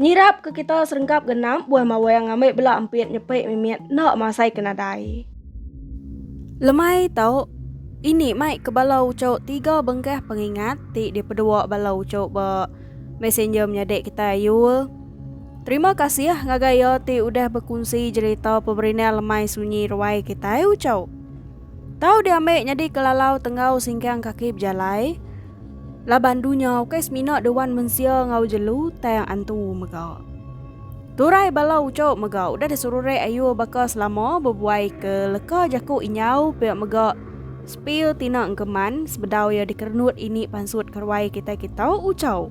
Nyirap ke kita serengkap genap buah mawang ambai bela empit nyepik mimit enda masai ke nadai. Lemai tau, ini mai ke bala uchu tiga bengkah pengingat ti dipedua bala uchu ba Messenger menyadi kitai ayu. Terima kasih ngagai iya ti udah bekunsi jerita peberindang lemai sunyi ruai kitai uchu. Tau diambi nyadi kelalau tenggau singkang kaki bejalai laban dunya ukai semina dewan mensia enggau jelu tang antu mega. Turai bala uco mega udah diserurek ayu baka selama bebuai ke leka jaku inyau pia mega sepil tina engkeman sebedau iya dikerenut ini pansut keruai kitai-kitai uco.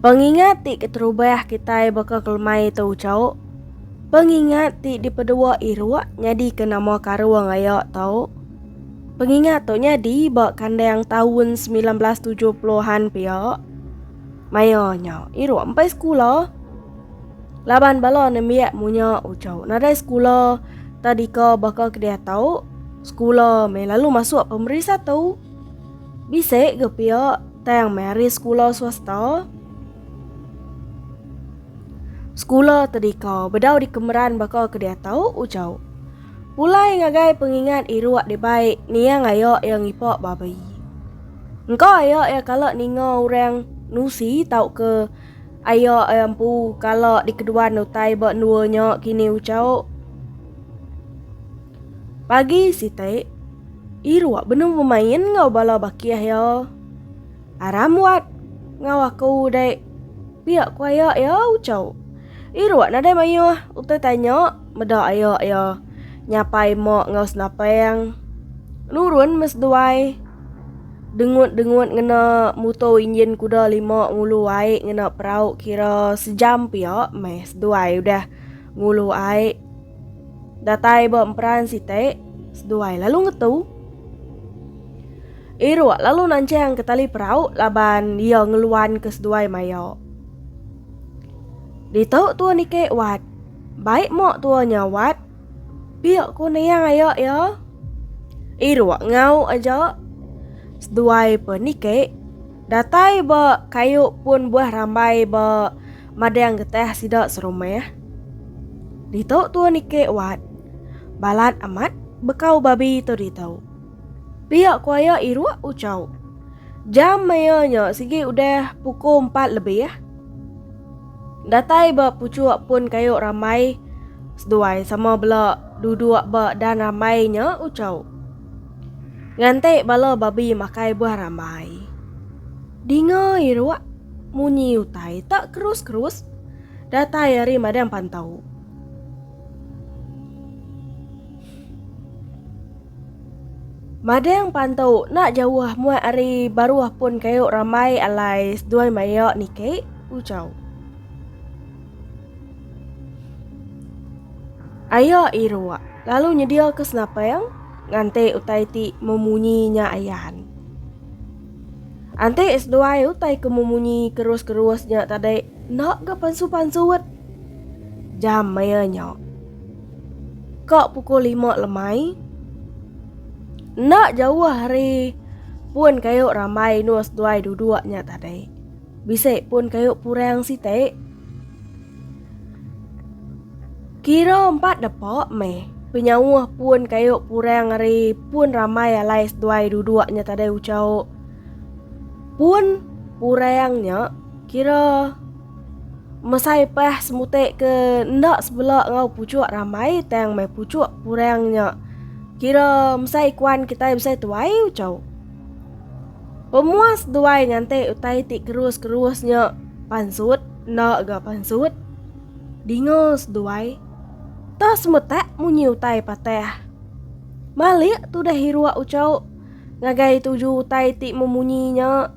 Pengingat ti keterubah kitai baka kelemai tu ucau. Pengingat ti dipedua iruk nyadika nama karung aya tau. Pengingat tu nyadi ba kandang taun 1970-an pia. Maya nya iruk empai sekula. Laban bala nembiak munya ucau nadai sekula tadika baka ke diatu, sekula meh lalu masuk pemeri satu. Bisi ke pia tang meri sekula swasta? Sekula tadika bedau dikemeran baka ke diatau ujau. Pulai ngagai pengingat iruk dibai niang aya iya ngipak babi. Engka aya iya kala ninga orang nusi tauka aya iya empu kala dikeduan utai ba endua nya kini ujau. Pagi siti, Iruk benung bemain enggau bala bakih iya. Aram wat enggau aku udah pia ku aya iya ucau. Iruk nadai mayuh utai tanya meda aya iya nyapai mak enggau senapang. Nurun meh seduai dengut-dengut ngena muto injin kuda lima ngulu ai ngena perau kira sejam pia meh seduai udah ngulu ai. Datai ba emperan siti, seduai lalu ngetu. Iruk lalu nancang ke tali perau laban ia ngeluan ke seduai maya. Ditu tua niki wat. Baik mak tua nya wat. Pia ku niang aya ya. Iruk ngau aja. Seduai pe niki. Datai ba kayu pun buah rambai ba. madang getah sida serumah. Ditu tua niki wat. Balat amat bekau babi tu ditu. Pia ku aya iruk ucau. Jam maya nya sigi udah puku empat lebih. Datai ba puchuk pun kayu ramai seduai sama bela duduk ba dan ramai nya ucau. Nganti bala babi makai buah rambai. Dinga iruak munyi utai tak kerus-kerus datai ari madang pantau. Madang pantau nak jauh muat ari baruh pun kayu ramai alai seduai maya niki ucau. Aya iruak lalu nyedia ke senapang nganti utai ti memunyi nya ayan. Anti seduai utai ke memunyi kerus-kerus nya tadi enda ga pansut-pansut jam maya nya. Ka pukul lima lemai. Enda jauh ari pun kayu rambai indu seduai duduk nya tadi. Bisi pun kayu purang siti. Kira empat depa meh. Penyauh pun kayu purang ari pun ramai alai seduai duduk nya tadai ucau. Pun purang nya kira mesai pah semutai ke enda sebela enggau puchuk ramai tang meh puchuk purang nya kira mesai kuan kitai besai tuai ucau. Pemuas duai nganti utai ti kerus-kerus nya pansut enda ga pansut. Dingol seduai. Ta semetak munyi utai patah. Malik tudah hiruk ucau ngagai tuju utai ti memunyi nya.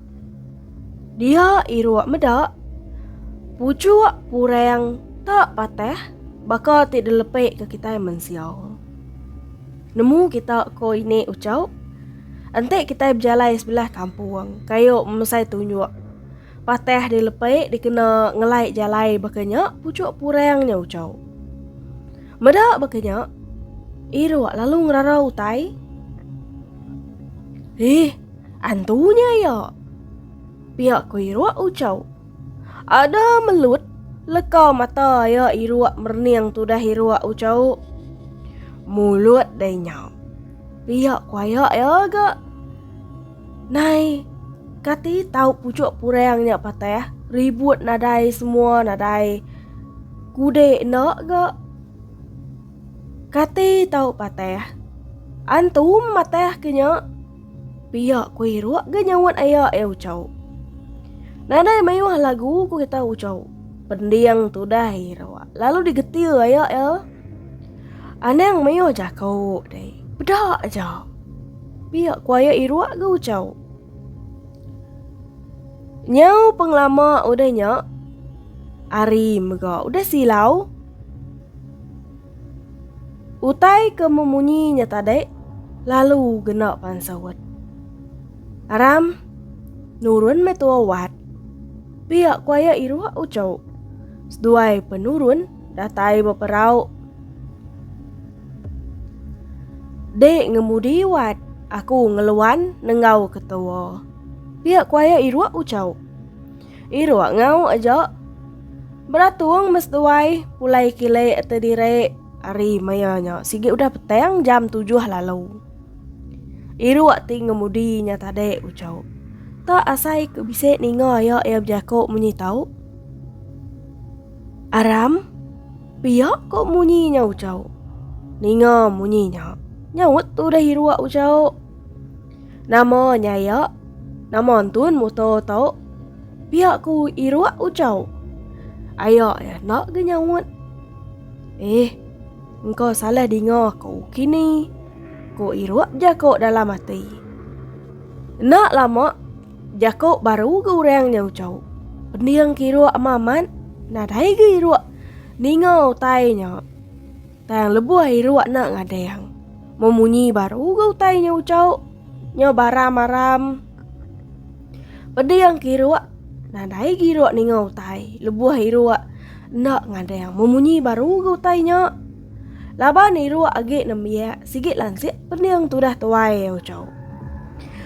Dia hiruk meda. Puchuk purang ta patah baka ti dilepek ke kitai mensia. Nemu kita ko ini ucau? Enti kitai bejalai sebelah kampung, kayu memesai tunjuk. Patah di lepai dikena ngelai jalai baka nya pucuk purang nya ucau. Meda baka nya, iruk lalu ngerarau utai. Ih, antunya iya. Pia ko iruk ucau. Ada melut leka mata iya iruk merening tudah iruk ucau. Mulut dai nya. Pia ku aya iya ga. Nai kati tau pucuk purang nya patah ribut nadai semua nadai kudi enda ga. Kati tau patah. Antu matah ke nya. Pia ku Iruk ga nyaut aya iya ucau. Nadai mayuh lagu ku kita ucau. Pending tudah Iruk lalu digetir aya iya. Anang mayuh jaku deh. Peda aja. Pia ku aya Iruk ga ucau. Nyau pengelama udah nya ari mega udah silau. Utai ke memunyi nya tadi lalu gena pan sawat. Aram, nurun meh tua wat. Pia ku aya iruh uco. Seduai penurun datai beperau. Dek ngemudi wat aku ngeluan nenggau ke tua. Pia ku aya iruh uco. Iruk ngau aja. Beratung mes duai pulai kile te dire ari maya nya sigi udah petang jam tujuh lalu. Iruk ti ngemudi nya tade ucau. Tak asai ke bisi ninga ya iya bejaku munyi tau. Aram, pia ko munyi nya ucau. Ninga munyi nya. Nyaut tu deh iruk ucau. Nama nyaya? Nama entun muto to? Pia ku Iruk ucau. Aya ya enda ge nyaut. Eh, engka salah dinga aku kini, ku Iruk bejako dalam ati. Enda lama, jako baru ge orang nya ucau. Pending ke Iruk ama amat, nadai ge Iruk ninga utai nya. Tang lebuh ilu anak ngadang. Mun munyi baru ga utai nya ucau. Nya baram-aram. Pedi yang kiruk nadai giruk ninga utai lebuh iru enda ngadang mun munyi baru ga utai nya. Laban iru agi nembiak sigi lansik pening tudah tuai ucau.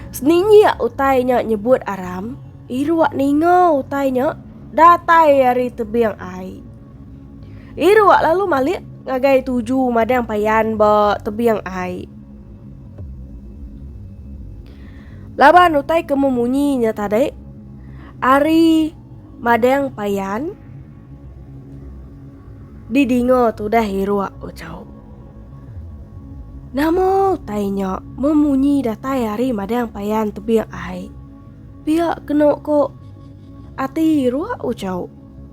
Seninjik utai nya nyebut aram, iru ninga utai nya datai ari tebing ai. Iru wak lalu malik ngagai tuju madang payan ba tebiang ai. Laban utai ke memunyi nya tadi ari madang payan didinga tudah iru wak ucau. Nama utai nya memunyi datai ari madang payan tebiang ai. Pia kena ko ati iru wak ucau.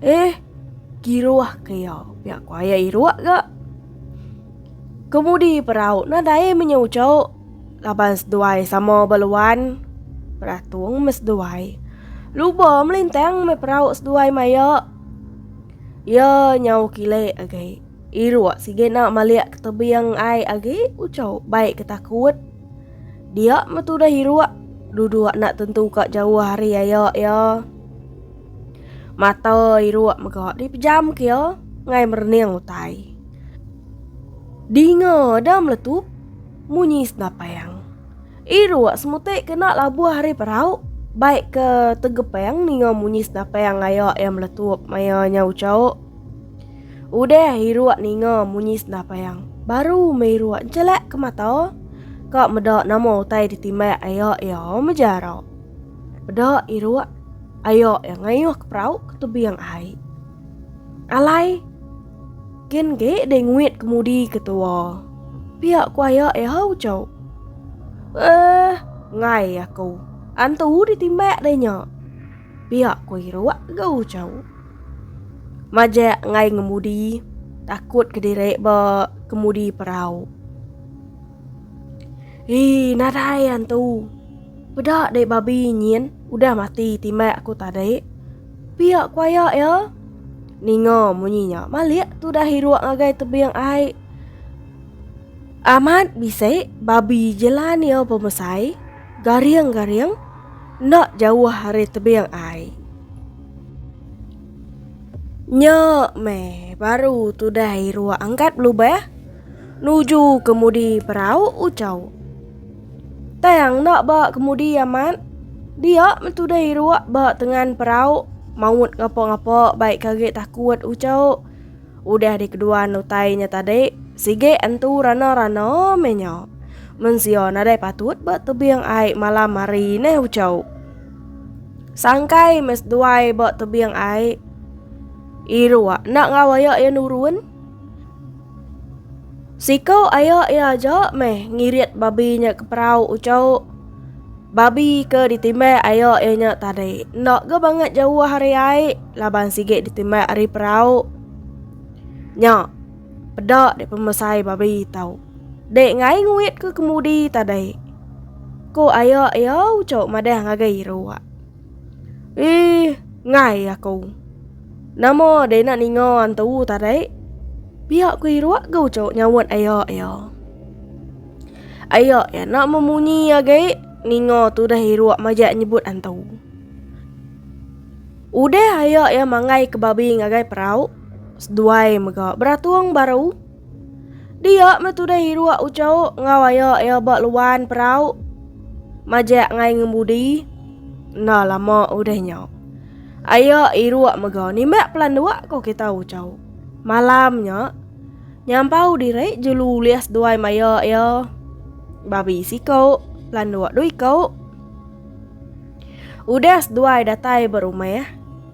Eh, kiruh ke iya, pia ku ayah Iruk ga. Kemudi perau nadai menyau ucuk laban seduai sama ba luan. Beratung meh seduai. Luba melintang meh perau seduai maya. Iya nyau kilik agi. Iruk sigi enda malik ke tebing ai agi ucuk bai ke takut. Dia meh tudah Iruk duduk enda tentu ka jauh ari aya iya. Mata iruk mega dipejam ke ngai merening utai. Dinga ada meletup munyi senapang. Iruk semutik kena labuh ari perau baik ke tegepang ninga munyi senapang ngaya iya meletup maya nya uchauk. Udah iruk ninga munyi senapang baru meh iruk nchelak ke mata ka meda nama utai ditimbak aya iya mejarak. Peda iruk ayok iya ngayuh ke perau ke tebing ai. Alai gen ge dei nguit kemudi ke tua. Pia ku ayok iya ha ucau. Eh, ngai aku. Antu ditimbak dei nya. Pia ku iruk ga ucau. Majak ngai ngemudi takut ke diri ba kemudi perau. Ih, nadai antu. Peda deh babi nyin udah mati timak aku tadi. Pia kuaya ya. Ninga munyi nya malik tu dah hiruk ngagai tebing ai. Amat bisi babi jelan ya pemesai garing-garing enda jauh ari tebing ai. Nya meh baru tu dah hiruk angkat belubah nuju kemudi perau ucau. Tang enda ba kemudi amat. Dia metudai iruk ba tengan perau. Maut ngapa-ngapa baik kage takut ucau. Udah dikeduan utai nya tadi, sige entu rana-rana meh nya. Mensia nadai patut ba tebing ai malam hari neh ucau. Sangkai meh seduai ba tebing ai. Iruk enda ngau aya iya nurun. Siko ayo iya aja meh ngirit babi nya ke perau uco. Babi ke ditimbai ayo iya nya tadi enda ga bangat jauh ari ai laban sigi ditimbai ari perau. Nya peda dek pemesai babi tau. Dek ngai nguit ke kemudi tadi. Ko ayo iya uco madah ngagai ruak. Ih, ngai aku. Nama deh nak ninga antu tarik? Pihak ku iruak ga ucuk nyawat ayak ya. Ayak ya nak memunyi agai ninga tu dah iruak majak nyebut antu. Udah ayak ya manggai ke babi ngagai perau, seduai mega beratung baru. Dia meh tudah Hiruk Ucok ngau ayo iya ba luan perau. Majak ngai ngembudi. Enda lama udah nya. Ayo Hiruk mega nimbak pelanduk ko kita Ucok. Malam nya nyampau diri jelu ulih seduai maya iya. Babi siko, pelanduk dui ko. Udah seduai datai ba rumah.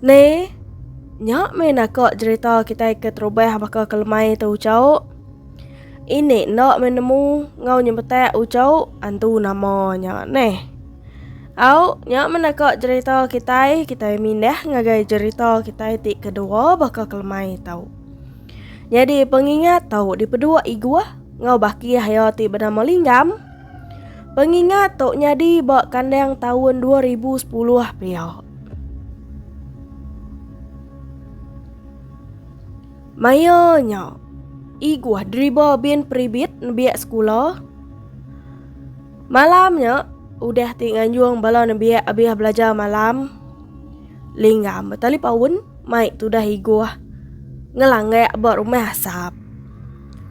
Ne, nya meh naka jerita kitai ke terubah baka ke lemai tu ucau. Ini enda meh nemu ngau nyebetak ucau antu nama nya neh. Au, nya meh naka jerita kitai, kitai mindah ngagai jerita kitai ti kedua baka ke lemai tu. Nyadi pengingat tu dipeduk Iguh ngau bakih iya ti benama Linggam. Pengingat tu nyadi ba kandang taun 2010 pia. Maya nya, Iguh deriba Bin Peribit nembiak sekula. Malam nya, udah ti nganjung bala nembiak abih belajar malam. Linggam betalipaun mai tudah Iguh ngelanggak ba rumah Asap.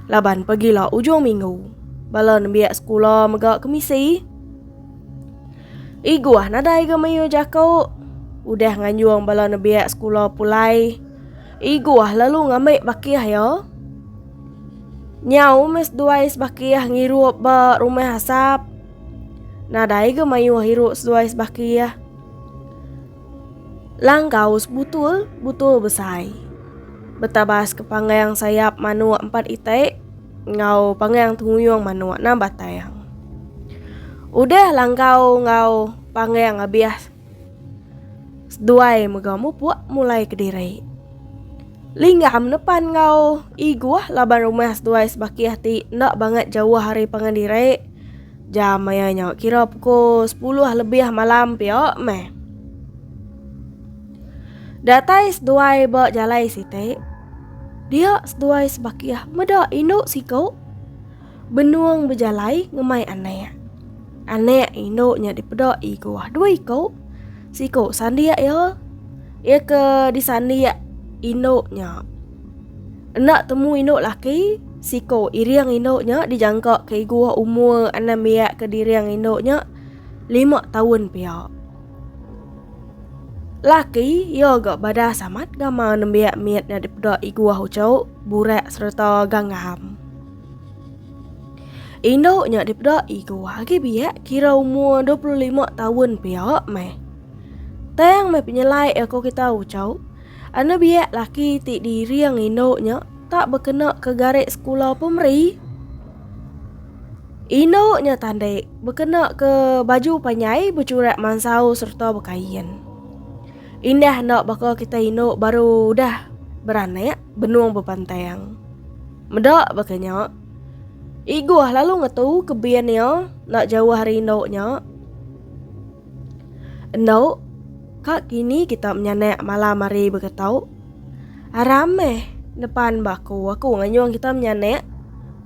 Laban pagila ujung minggu, bala nembiak sekula mega ke misi. Iguh nadai ga mayuh jaku. Udah nganjung bala nembiak sekula pulai, Iguh lalu ngambi bakih iya. Nyau meh seduai sebakih ngirup ba rumah asap. Nadai ga mayuh irup seduai sebakih. Langgau sebutul butul besai. Betabas ke panggang sayap manuk empat itik enggau panggang tenguyung manuk enam batang. Udah langgau enggau panggang abih seduai mega mupuk mulai kediri. Lingga menepan enggau Iguh laban rumah seduai sebakih ti enda bangat jauh ari pangan diri. Jam maya nya kira pukul sepuluh lebih malam pia meh. Datai seduai ba jalai siti, dia seduai sebakih meda indu siku. Benung bejalai ngemai anak. Anak indu nya dipeda i ke wah dua iko. Siko sandik ya. Ia ke disandik indu nya. Enda temu indu laki, siko iring indu nya dijangka ke iguh umur anang biak ke diring indu nya lima tahun pia. Laki ia ga badas amat gamal nembiak mit nya dipeda iguh ucu, burak sereta ganggam. Indu nya dipeda Igo agi biak kira umur 25 tahun pia meh. Tang meh penyelai aku kita ucau. Anu biak laki ti diiring indu nya tak bekena ke garis sekula pemeri. Indu nya tandek bekena ke baju panjai becurak mansau serta bekain. Indah enda baka kita indu baru udah beranak benung bepantang. Meda baka nya, Igoh lalu ngetu ke bin iya enda jauh ari endu nya. Endu, ka kini kita menyanak malam hari baka tu. Aram meh nepan ba aku, aku nganyung kita menyanak.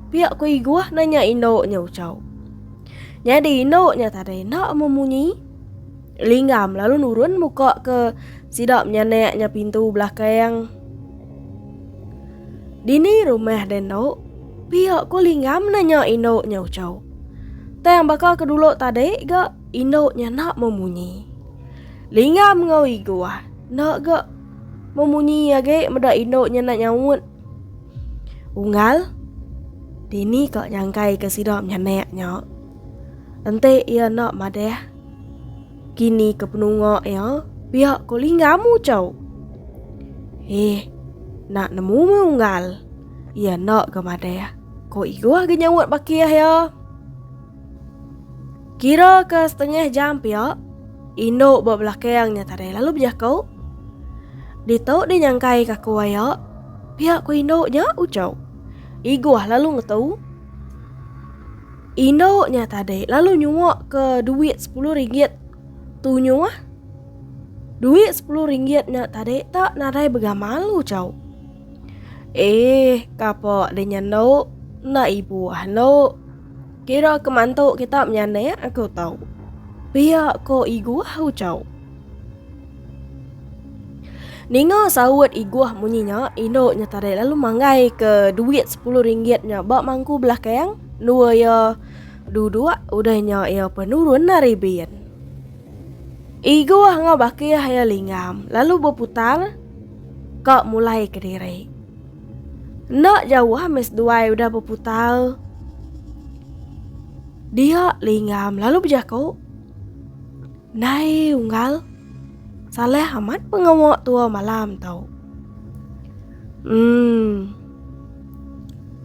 Pia ku Igoh nanya indu nya Uchau. Nyadi indu nya tadi enda memunyi. Linggam lalu nurun muka ke sida menyanak nya pintu belakang. Dini rumah dan nok pia ko linggam nanya indo nya ucau. Tang baka ke dulu tadi ga indo nya nak memunyi. Linggam ngau igu ah nak ga memunyi agi meda indo nya nak nyaut. Unggal Dini ka nyangkai ke sida menyanak nya. Enti ia nak madah Kini ke penunga iya pia ko lingga mu cau. Eh, nak nemu me unggal. Iya enda ga madah, ko Igoh ga nyaut bakih iya. Kira ke setengah jam pia, indu ba belakang nya tadi lalu bejaku. Ditu di nyangkai ka ko iya, pia ko indu nya ucau. Igoh lalu ngetu. Indu nya tadi lalu nyuwak ke duit sepuluh ringgit tu nyu ah. Duit sepuluh ringgit nya tadi tak nadai begamal lu cau. Eh, kapa di nyendu? Enda ibu ah endu. Kira ke mantu kita menyanik aku tau. Pia ko igu ah ucau. Ninga saut Iguh munyi nya, indu nya tadi lalu manggai ke duit sepuluh ringgit nya ba mangku belakang, nua iya duduk, udah nya iya pun nurun ari bin. Iguh enggau baki iya linggam, lalu beputar ka mulai ke diri. Enda jauh meh seduai udah beputar, dia linggam lalu bejaku. Ndai unggal. Salah amat pengawa tua malam tau. Hmm.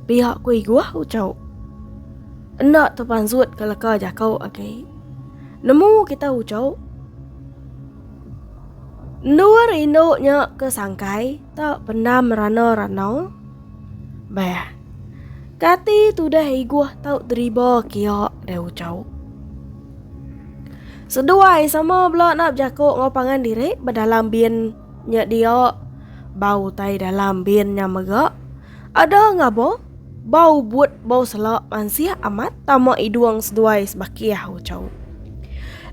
Pihak ku iguh ucau. Enda tepansut ke leka jakau agi. Nemu kita ucau. Endur indu nya ke sangkai tak pendam rana-rana. Bah. Kati tudah iguh tau deriba kia deh ucau. Seduai sama bela enda bejaku enggau pangan diri bedalam bin nya dia bau utai dalam bin nya mega ada ngabo bau but bau sela mansih amat tama idung seduai sebakih ucau.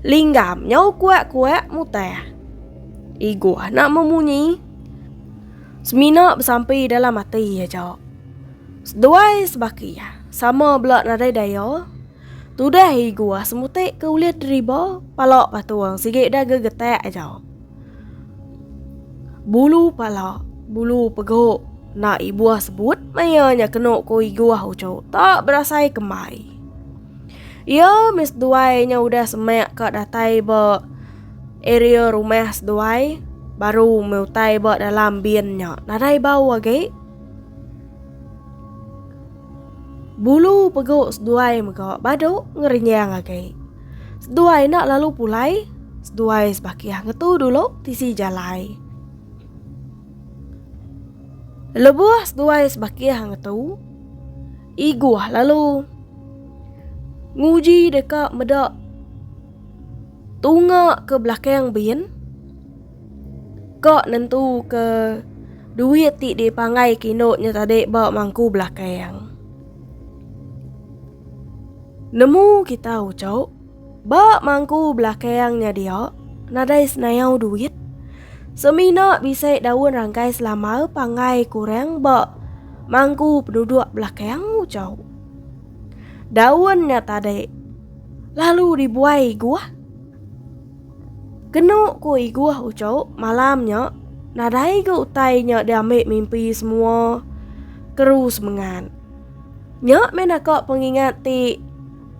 Linggam nyau kuak-kuak mutah. Iguh nak memunyi. Semina besampi dalam ati aja. Seduai sebakih sama bela nadai daya Tudah i guah semutik ke ulih deriba pala patung sigi dah gegetak aja. Bulu pala, bulu pegok na i buah sebut maya nya kenu ku i guah ucu tak berasai kembai. Ia mis duai nya udah semak ka datai ba area rumah seduai baru meh utai ba dalam bin nya nadai bau agi. Bulu pegu seduai mega badu ngerenyang agi. Seduai enda lalu pulai, seduai sebakih ngetu dulu tisi jalai. Lebuh seduai sebakih ngetu, iguh lalu nguji deka meda tunga ke belakang bin. Ka nentuka duit ti dipanggai kino nya tadi ba mangku belakang. Nemu kita ucok, ba mangku belakang nya dia nadai senayau duit. Semina bisi daun rangkai selama panggai kurang ba mangku penduduk belakang ucok. Daun nya tadi lalu dibuai guah. Kenu ku Iguh ucu, malam nya, nadai ga utai nya diambi mimpi semua keru semengat. Nya meh naka pengingat ti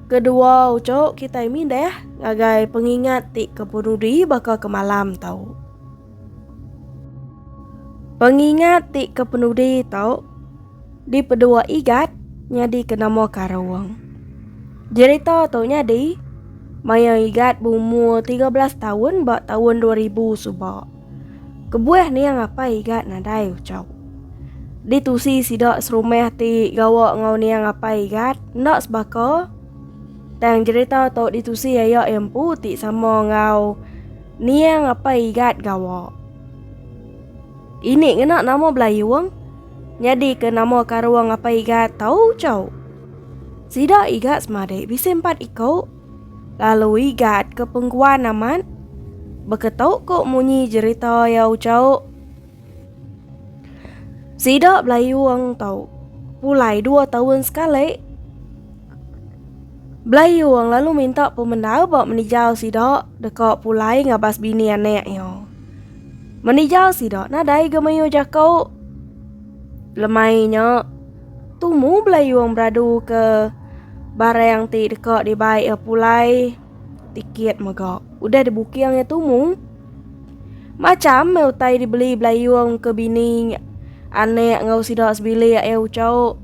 kedua ucu kitai mideh ngagai pengingat ti ke penudi baka ke malam tu. Pengingat ti ke penudi tu. Dipedua Igat nyadika nama Karung. Jerita tu nyadi maya Igat beumur tiga belas taun ba taun dua ribu suba. Kebuah niang apai Igat nadai ucha. Ditusi sida serumah ti gawa enggau niang apai Igat enda sebaka tang jerita tu ditusi aya empu ti sama enggau niang apai Igat gawa. Ini ngena nama Belayung. Nyadi ke nama karua ngapa iga tau chau? Sida iga semadi bisi empat iku. Lalu iga ke pengguan amat. Beketu ko munyi jerita iya uchau. Sida belayung tau. Pulai dua tahun sekali. Belayung lalu minta pemendar ba menijau sida deka pulai ngabas bini anak iya. Menija sida nadai ga mayuh jako. Lemai nya, tumu belayung beradu ke barang ti deka dibai iya pulai tiket mega udah dibuking iya tumu. Macham meh utai dibeli belayung ke bini anak enggau sida sebilik iya uchu.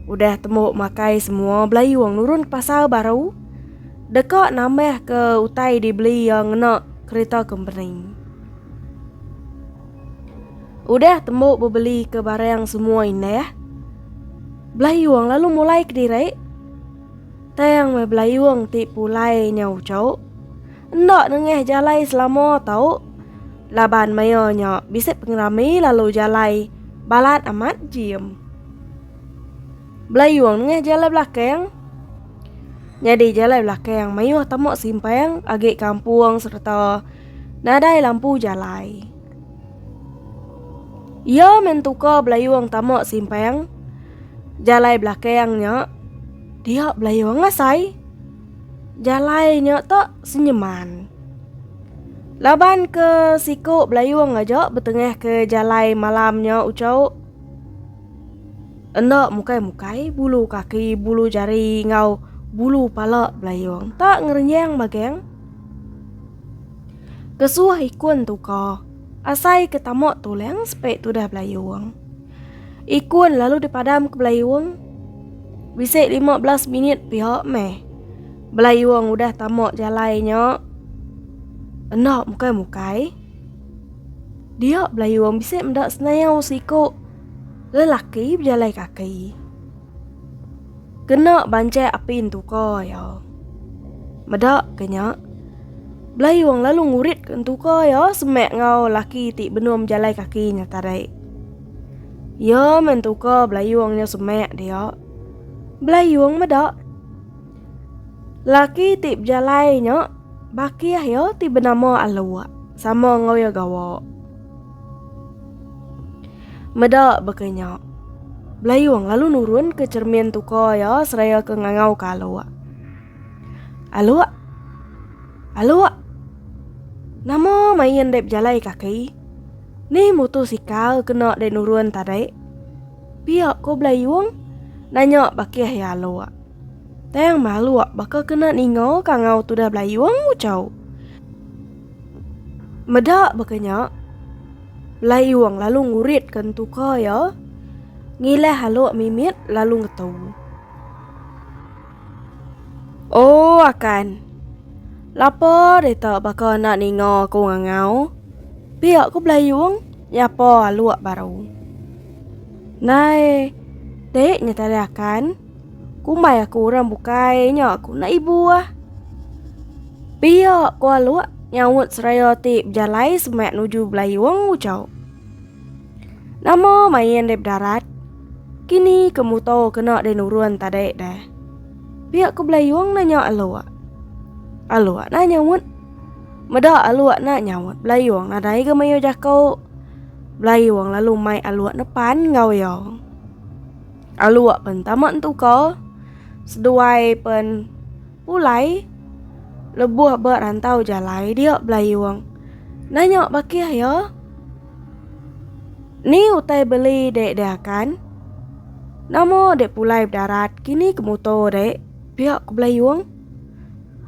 Udah tembu makai semua belayung nurun ke pasar baru. deka nambahka utai dibeli iya ngena kereta kompeni. Udah tembu bebeli ke barang semua indah, Belayung lalu mulai ke diri. Tang meh Belayung ti pulai nya ucau. Enda nengah jalai selama tau. Laban maya nya bisi pengerami lalu jalai balat amat jim. Belayung nengah jalai belakang Nyadi jalai belakang mayuh tama simpang agi kampung sereta nadai lampu jalai. Iya mentuka belayung tama simpang jalai belakang nya dia belayung asai. Jalai nya tak senyeman. Laban ke siku belayung aja betengah ke jalai malam nya ucau. Enda mukai-mukai bulu kaki, bulu jari enggau bulu pala belayung tak ngerenyang mageng. Kesuh ikun tuka, asai ke tama tulang sepe tudah belayung. Ikun lalu dipadam ke belayung. Bisi 15 minit pia meh. Belayung udah tama jalai nya. Enda mukai-mukai. Dia belayu orang bisik meda senayau siku lelaki bejalai kaki. Kena bancai api entuka ya. Meda kenya belayu orang lalu ngurit ke entuka ya semak ngau laki ti benung bejalai kaki nya tadi. Ya mentuka belayu orang nya semak dia. Belayu orang meda. Lelaki ti bejalai nya bakih iya ti benama Aluk sama enggau iya gawa. Meda baka nya, Belayung lalu nurunka cermin tuka iya seraya ke ngangauka Aluk. Aluk. Aluk. Nama main dei bejalai kaki? Nih mutusikal kena dei nurun tadi? Pia ko Belayung? Nanya bakih ya Alok. Tang Maluk baka kena ninga ka ngau tudah Belayung ucau. Meda baka nya, Belayung lalu ngurit ke entuka ya. Ngilah Alok mimit lalu ngetu. Oh akan. Lapa deka baka enda ninga aku ngangau. Pia ku belayung nyapa aluk baru. Nai te nya tadi akan. Kumbai aku orang bukai nya aku enda ibu ah. Pia ku aluk nyaut seraya ti bejalai semak nuju belayung ucau. Nama main deh bedarat? Kini ke muto kena deh nurun tadi deh. Pihak ke belayung nanya Aluk. Aluk nak nyaut. Meda Aluk nak nyaut belayung nadai ke mayu jaku. Belayung lalu mai Aluk nepan enggau yo. Aluk pen tama entuka seduai pen pulai lebuh ba rantau jalai dia belayung. Nanya bakih yo. Ni utai beli dek diakan. Nama dek pulai bedarat kini ke muto dek. Pia ku belayong.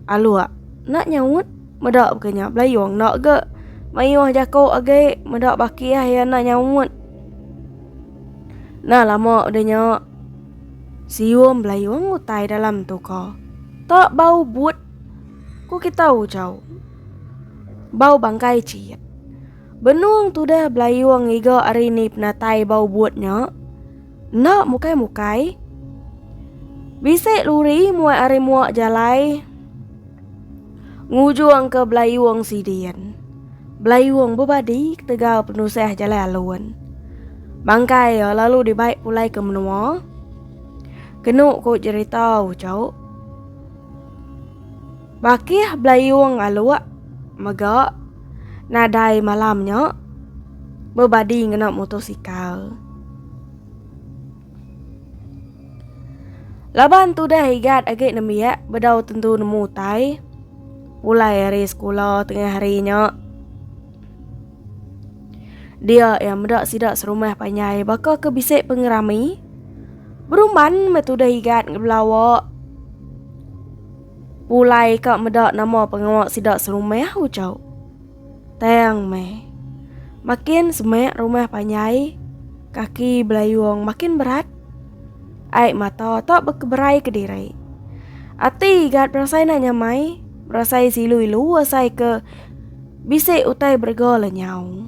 Alok enda nyaut meda baka nya belayong enda ga mayuh jako agi meda baki ai iya enda nyaut. Nah lama udah nya siung belayong utai dalam tu ko. Tak bau but ku kita ujau. Bau bangkai cit. Benung tudah belayung ngiga ari ni penatai bau but nya. Enda mukai-mukai. Bisi luri muat ari muak jalai. Ngujung ke belayung sidin. Belayung bebadi ketegal penusah jalai alun. Bangkai ya lalu dibaik pulai ke menua. Kenu ku jerita ucau. Bakih Belayung Aluk mega nadai malam nya bebadi ngena motosikal. Laban tudah Igat agi nembiak bedau tentu nemu utai pulai ari sekula tengah hari nya. Dia yang meda sida serumah panjai baka ke bisi pengerami. Berumban metudah Igat ngebelawa Pulai ka meda nama pengawa sida serumah ucau. Tang meh. Makin semak rumah panjai, kaki belayung makin berat. Ai mata tak berkeberai ke diri. Ati gat berasai nak nyamai, berasai silu-ilu asai ke bisi utai berega lenyau.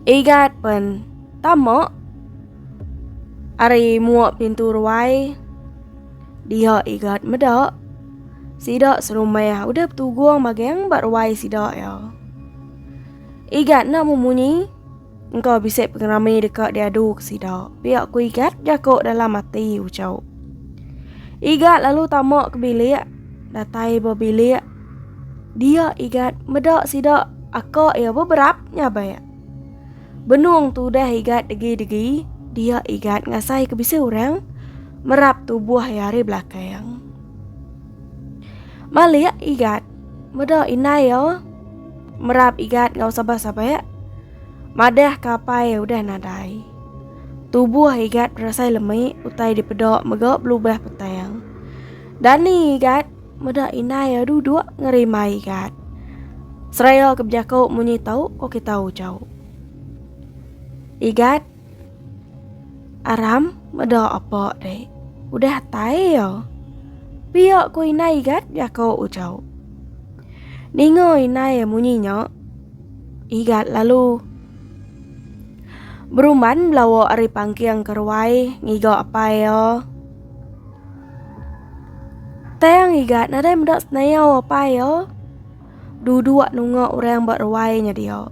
Igat pen tamak Ari mua pintu ruai dia igat meda sida serumah udah betugung magang ba ruai sida ya. Igat enda memunyi engka bisi pengerami deka diadu ke sida. Pia ku igat jaku dalam ati ucau. Igat lalu tama ke bilik datai ba bilik dia igat meda sida aka iya beberap nyabak. Benung tu udah igat degi-degi, dia igat ngasai ke bisi orang merap tubuh ia hari belakang. Malik igat meda inai ia merap igat ngau sabah-sabah. Madah kapai udah nadai. Tubuh igat berasai lemik utai dipeda mega belubah petang. Dani igat Meda indai iya duduk ngerimbai gat. Seraya ke bejako munyi tau ko kita ujau. Igat aram meda apa dek. Udah tai iya. Pia ko indai igat jako ujau. Ninga indai munyi nya igat lalu berumban belawa ari pangking ke ruai ngiga apai iya. Tang iga nadai meda senayau apa ya. Duduk nunga orang ba ruai nya dia.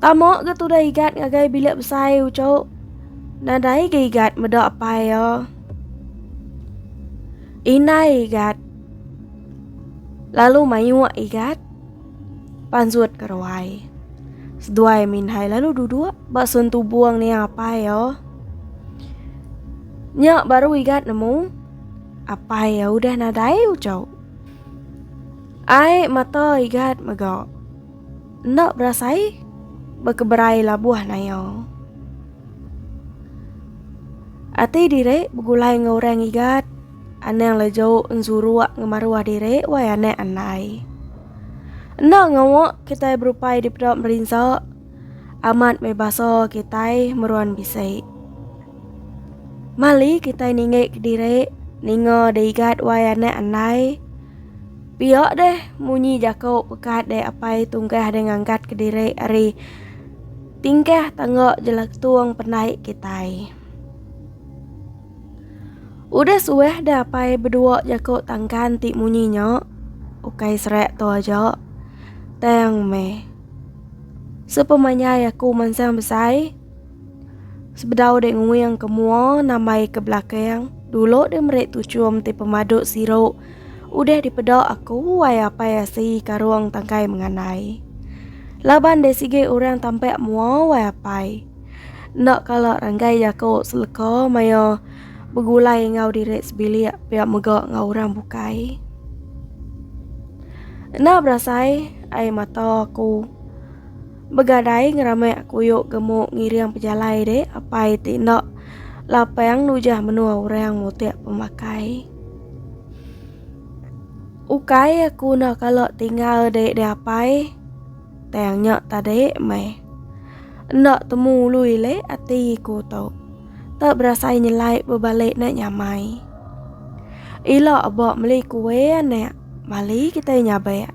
Tama ga tudah igat ngagai bilik besai ucuk. Nadai ga igat meda apa ya. Indai igat lalu mayuh igat. Panjut ke ruai. Seduai Minhai lalu duduk ba sun tubung ni apai yo. Nya baru igat nemu apai ya udah nadai ucau. Ai mata igat mega. Enda berasai bekeberai labuh nayo. Ati diri begulai enggau orang igat. Anang le jauh enzuruak ngemaruh diri wai anak andai. Enda ngawa kitai berupai dipeda merinsa amat meh basa kitai meruan bisi. Mali kitai ninggik diri ninga diigat wai anak andai. Pia deh munyi jaku pekat dek apai tunggah deh ngangkat ke diri ari tingkah tangga jelatung pandai kitai. Udah suah dah apai bedua jako tangkan ti munyi nya. Ukai serak tu aja. Tang meh. Sepemanyai aku mansang besai. Sebedau dek nguing ke mua nambai ke belakang. Dulu dek merik tuchum ti pemaduk siru. Udah dipeda aku wai apai asi karung tangkai mengandai. Laban dek sigi orang tampak mua wai apai. Enda kala ranggai jaku seleka maya begulai enggau diri sebilik pia mega enggau orang bukai. Enda berasai ai mata aku begadai ngeramik kuyu gemu ngiring pejalai dek apai ti enda lapang nujah menua orang mutik pemakai. Ukai aku enda kala tinggal dek diapai. Tang nya tadi meh. Enda temu lui le ati ku tu. Tak berasai nyelai bebalik nak nyamai. Ila abak meli kue anak. Mali kita nyabak.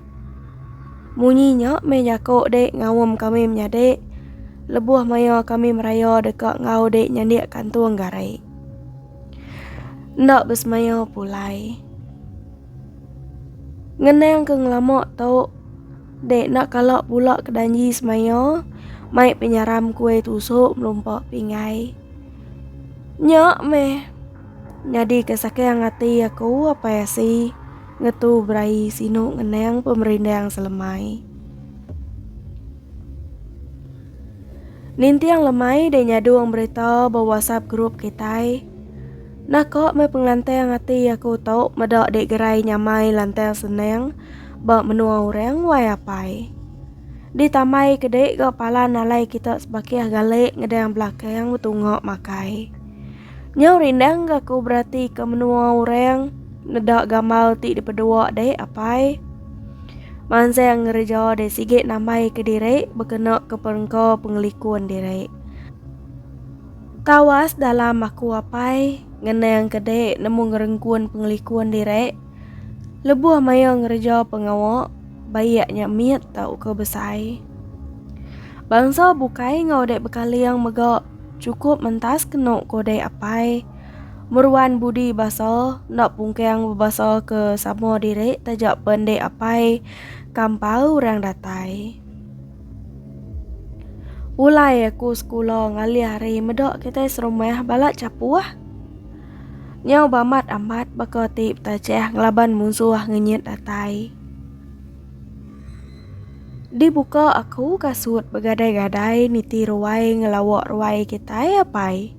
Munyi nya meh jaku dek ngawam kami menyadi. Lebuh maya kami meraya deka enggau dek nyandik kantung gari. Enda besemaya pulai. Ngenang ke ngelama tu. Dek enda kala pula ke danji semaya, mai penyaram kue tusuk melumpa pinggai. Nya meh nyadi ke sakang ati aku apai asi ngetu berai sinu ngenang pemerindang selemai. Ninting lemai dek nyadung berita ba WhatsApp group kitai. Naka meh pengantang ati aku tu meda dek gerai nyamai lantang senang. ba menua orang wai apai. Di tamai kedi ga palan alai kita sebakih galik ngedang belakang betunga makai. Nyau rindang ga ku berati ke menua orang ngeda gamal ti dipedua dek apai. Mansang ngereja dek sigi nambai ke diri bekena ke perengka pengelikun diri. Tawas dalam aku apai ngenang kedi nemu ngerengkun pengelikun diri. Lebuh maya ngereja pengawa, baik nya mit tauka besai. Bangsa bukai enggau dek bekaling mega cukup mentas kenu ko dek apai. Meruan budi basa enda pungkang bebasa ke sama diri taja pen dek apai kampau orang datai. Pulai aku sekula ngalih hari meda kitai serumah bala chapuh. Nyau bamat amat baka ti betachah ngelaban munsuh ngenyit datai. Dibuka aku kasut begadai-gadai niti ruai ngelawa ruai kitai apai.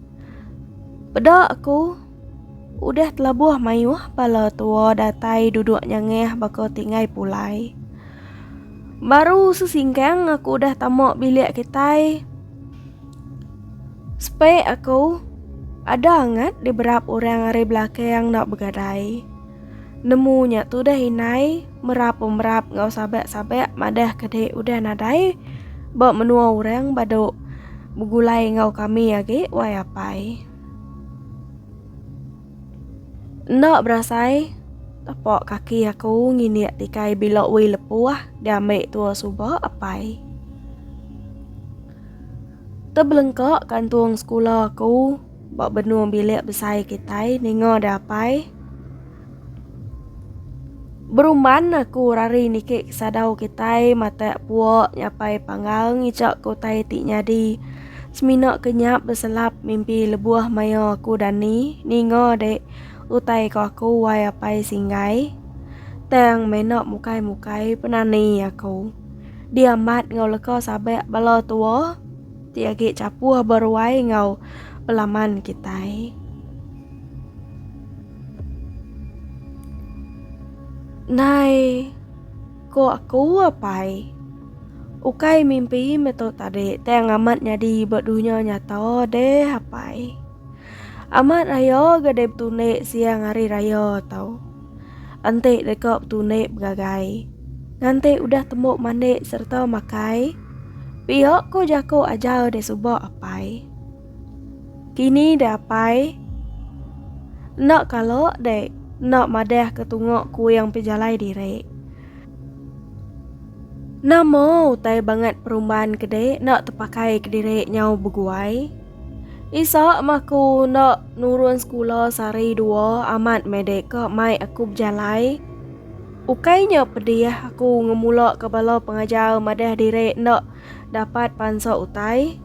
Peda aku udah telabuh mayuh bala tua datai duduk nyangah baka ti ngai pulai. Baru sesingkang aku udah tama bilik kitai, Spek aku ada angat di berap orang ari belakang enda begadai. Nemu nya tudah indai merap pemerap enggau sabak-sabak madah ke dek udah nadai ba menua orang badu begulai enggau kami agi wai apai. Enda berasai tapak kaki aku nginik tikai bila wei lepuh diambi tua suba apai. Tebelengka kantung sekula aku ba benung bilik besai kitai ninga deh apai. Berumban aku rari niki kesadau kitai matak puak nyapai panggal ngejak ke utai ti nyadi. Semina ke nyap beselap mimpi lebuh maya aku dani ninga dek utai ko aku wai apai singgai. Tang mena mukai mukai penani aku. Di amat ngau leka sabak bala tua ti agi capuh beruai ngau pelaman kitai. Nai. Ko aku apai. Ukai mimpi meh tu tadi tang amat nyadi ba dunya nyata deh apai. Amat raya ga deh betundi siang hari raya tau. Enti deka betundi begagai. Nganti udah tembu mandi sereta makai. Pia ko jaku ajar deh suba apai. Kini deh apai. Enda kala dek enda madah ke tunga kuing pejalai diri. Nama utai bangat perumban ke dek enda tepakai ke diri nyau beguai. Isak mah aku enda nurun sekula sehari dua amat meh dek ke mai aku bejalai. Ukai nya pedih aku ngemula ke bala pengajar madah diri enda. Dapat pansok utai.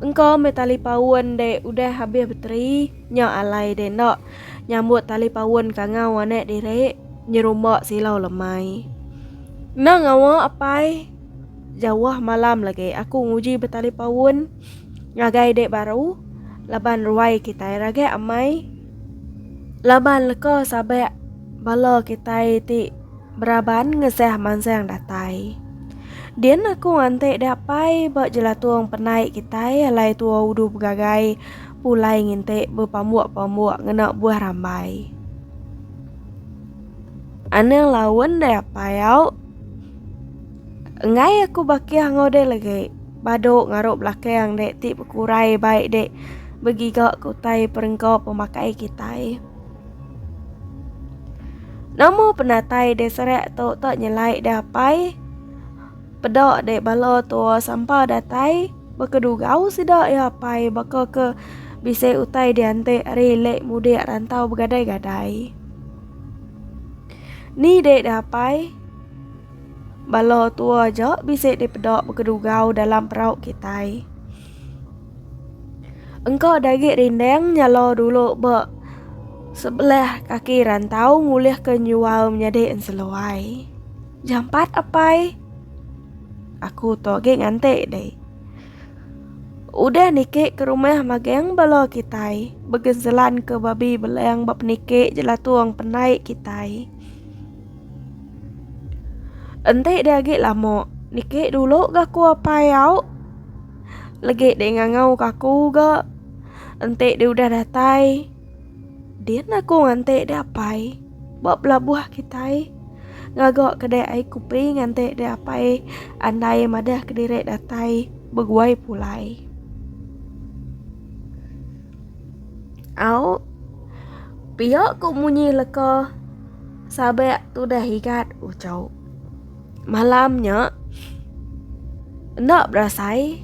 Engka meh tali paun de udah habis beteri, nya alai de enda nyambut tali paun kangau anak diri, nyerumba silau lemai. Enda ngawa apai, jauh malam lagi aku nguji betali paun ngagai dek baru laban ruai kitai ragak amai laban leka sabak bala kitai ti. Beraban ngesah mansang datai. Din aku ngantik dia pai ba jelatung penai kitai alai tua udu begagai pulai ngintik bepambuk-pambuk ngena buah rambai. Anang laun dia pai au. Enggai aku bakih ngau dia lagi. Badu ngaruh belakang dia ti bekurai baik dia begiga ke utai perengka pemakai kitai. Nama penatai dek serak tu tak nyelai dek apai? Peda dek bala tu sampa datai baka dugau sida ya apai baka ke bisi utai diantik hari lek mudik rantau begadai-gadai. Ni dek dek apai? Bala tua ja bisi dipeda baka dugau dalam perau kitai. Engka dagi rinding nyala dulu ba sebelah kaki rantau ngulihka nyual menyadi enseluai. Jampat apai. Aku tu agi nganti deh. Udah niki ke rumah magang bala kitai. Begenselan ke babi belang ba peniki jelatung penai kitai. Enti dia agi lama, niki dulu ga aku apai au legi deh ngangau ke aku ga. Enti dia udah datai, din aku nganti dia apai ba pelabuh kitai ngaga kedai ai kopi nganti dia apai andai madah kediri datai beguai pulai. Au pia ku munyi leka. Sabek tudah igat ucau. Malam nya, enda berasai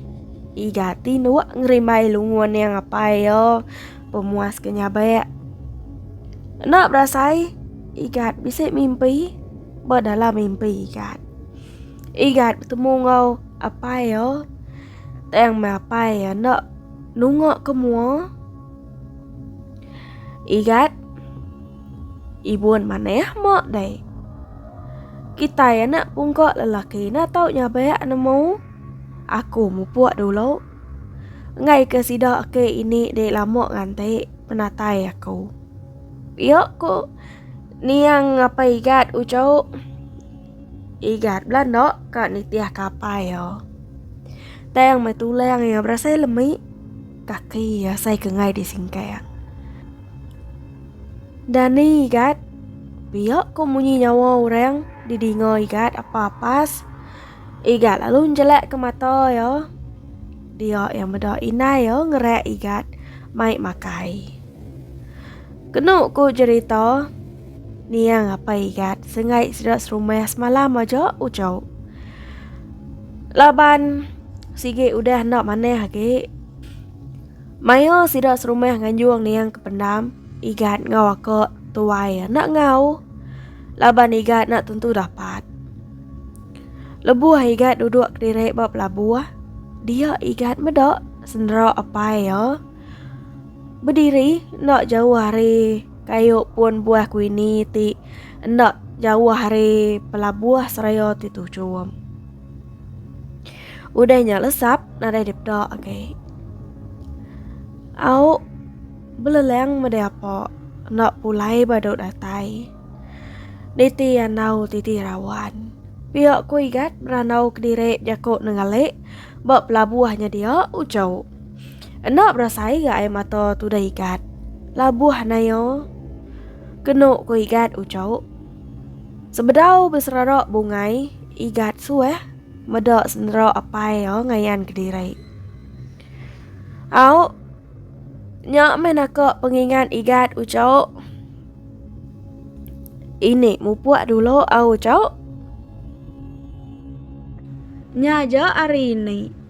igat tinuk ngerimbai lungun yang apai yo pemuas ke nyabek. Enda berasai igat bisi mimpi ba dalam mimpi igat. Igat betemu enggau apai yo tang meh apai yo enda nunga ke mua. Igat. Ibun maneh mok dai. Kitai anak pungkok lelaki na tau nyabek nemu. Aku mupuk dulu. Enggai ke sida ke ini dek lama nganti penatai aku. Pia ko niang apa igat ucau. Igat bela no ka nitih kapai yo. Tang metulang ya berasai lemi. Kaki asai kengai di singkang. Dani igat. Biak ko munyi nyawa orang di dinga igat apa apas. Igat lalu njelak ke mata ya. Dia yang meda inai ya ngerak igat mai makai. Kenu ko jerita niang apa igat sengai sida serumah semalam aja ucau. Laban. Sigi udah enda manah agi. Maya sida serumah nganjung niang ke pendam, igat ngau aku tuai enda ngau. Laban igat nak tentu dapat. Lebuh igat duduk kediri ba pelabuh, dia igat meda sendera apai iya bediri enda jauh ari kayu pun buah kuini ti enda jauh ari pelabuh seraya ti tuchum. Udah nya lesap nadai dipeda agai. Au beleleng meda apa enda pulai badu datai. Niti andau titi rawan. Pia ku Igat berandau kediri jaku nenggali ba pelabuh nya dia ujau. Enda berasai ga ai mata tudah Igat. Labuh nayo kenu ku Igat ujau. Sebedau beserara bungai, Igat suah meda senera apai iya ngayan kediri. Au, nya meh naka pengingat Igat ucau. Ini mupuk dulu au ucau. Nya aja hari ini,